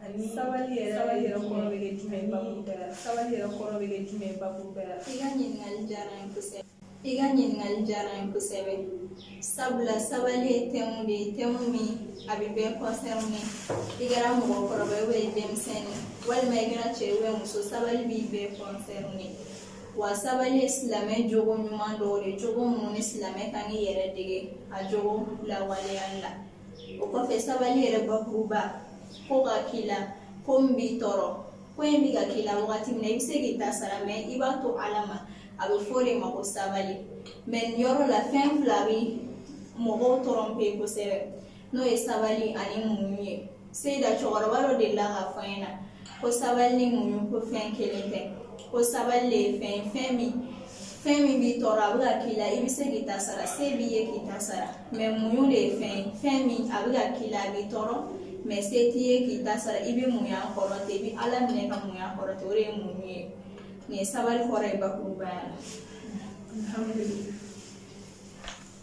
Ani sabali yɛrɛ sabali yɛrɛ kɔrɔ bɛ kɛ jumɛn ye babu bɛɛ la sabali yɛrɛ kɔrɔ bɛ kɛ jumɛn ye babu bɛɛ la i ka ɲininkali diyara n ye kosɛbɛ i ka ɲininkali diyara n ye kosɛbɛ sabula sabali ye tɛmu de ye tɛmu min a bɛ bɛɛ kɔnsɛrine i kɛra mɔgɔkɔrɔba ye i denmisɛnnin walima i kɛra cɛ ye muso sabali bɛ bɛɛ kɔnsɛrine wa sabali ye silamɛ jogo ɲuman dɔw de ye jogo minnu ni silamɛ ka kan k'i yɛrɛ dege a jogo lawaleyali la o kɔfɛ sabali yɛrɛ bakuruba ko ka k'i la ko min b'i tɔɔrɔ ko in bɛ ka k'i la wagati min na i bɛ se k'i ta sara mɛ i b'a to ala ma a bɛ fɔ o de ma ko sabali mɛ nin yɔrɔ la fɛn fila bɛ mɔgɔw tɔrɔnpe kosɛbɛ n'o ye sabali ani muɲu ye seyida cɛkɔrɔba dɔ delila k'a fɔ n ɲɛna ko sabali ni muɲu ko fɛn kelen tɛ ko sabali le ye fɛn ye fɛn min fɛn min b'i tɔɔrɔ a bɛ ka k'i la i bɛ se k'i ta sara se b'i ye k'i ta sara mɛ muɲu de ye fɛn ye fɛn min a bɛ ka k'i la a b'i tɔɔrɔ mɛ se t'i ye k'i ta sara i bɛ muɲu a kɔrɔ ten i bɛ ala minɛ ka muɲu a kɔrɔ ten o de ye muɲu ye nin ye sabali kɔrɔ ye bakurubaya la.